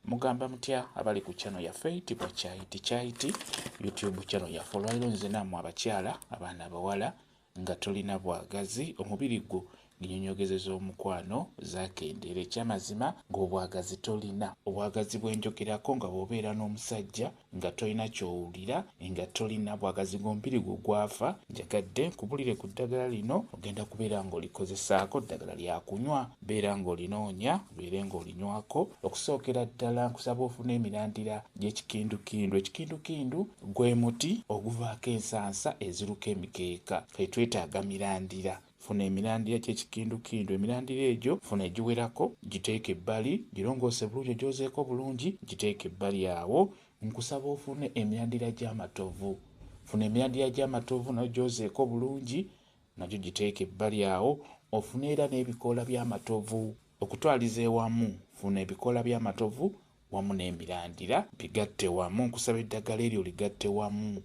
Mugamba mutya abali ku channel yaffe itibwa kyaiti kyaiti YouTube channel yaffe olwaliro nze namwe abakyala abaana abawala nga tolina bwagazi omubiri gwo nginyonyogezeza omukwano zakendera ekyamazima ng'obwagazi tolina obwagazi bwenjogerako nga bwobeera n'omusajja nga tolina kyowulira nga tolina bwagazi gomubiri gwo gwafa njagadde nkubulire ku ddagala lino ogenda kubeera nga olikozesaako ddagala lyakunywa beera nga olinoonya obeere nga olinywako okusookera ddala nkusaba ofuna emirandira gyekikindukindu ekikindukindu gwe muti oguvaako ensansa eziruka emikeeka etwetaaga mirandira Funa emirandira ky'ekikindukindu. Emirandira egyo funa egiwerako, giteeke ebbali, girongoose bulungi ogyozeeko bulungi, giteeke ebbali awo. Nkusaba ofune emirandira gy'amatovu. Funa emirandira gy'amatovu nayo gyozeeko bulungi, nagyo giteeke ebbali awo. Ofune era n'ebikoola by'amatovu. Okutwaliza ewamu, funa ebikoola by'amatovu wamu n'emirandira bigatte wamu. Nkusaba eddagala eryo oligatte wamu,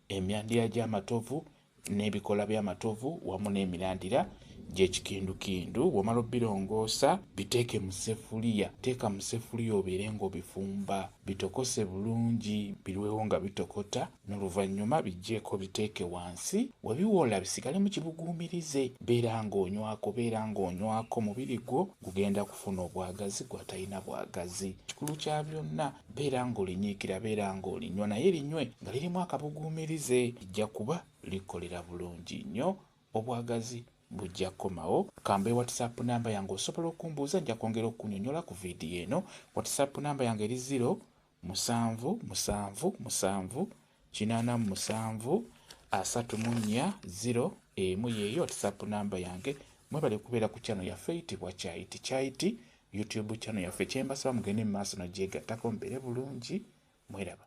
emirandira gy'amatovu n'ebikoola by'amatovu wamu n'emirandira gy'ekikindukindu. Bw'omala obirongoosa biteeke mu sseffuliya. Teeka mu sseffuliya obeere ng'obifumba bitokose bulungi biruwewo nga bitokota n'oluvannyuma biggyeeko biteeke wansi. We biwola bisigalemu kibuguumirize. Beera ng'onywako beera ng'onywako omubiri gwo gugenda kufuna obwagazi gw'atalina bwagazi. Ekikulu kya byonna Beera ng'olinyiikira, beera ng'olinywa naye linywe nga lirimu akabuguumirize. Lijja kuba likukolera bulungi nnyo. Obwagazi bujja kukomawo. Ka mbawe WhatsApp nnamba yange osobola okumbuuza nja kwongera okukunyonyola ku vidiyo eno. WhatsApp nnamba yange eri ziro, musanvu, musanvu, musanvu, kinana mu musanvu asatu mu nnya zero emu yeeyo whatsapp namba yange mwebale kubeera ku kyano yaffe eyitibwa kyayiti kyayiti youtube kyano yaffe kyembasaba mugende mu maaso nagyegattako mbeere bulungi mweraba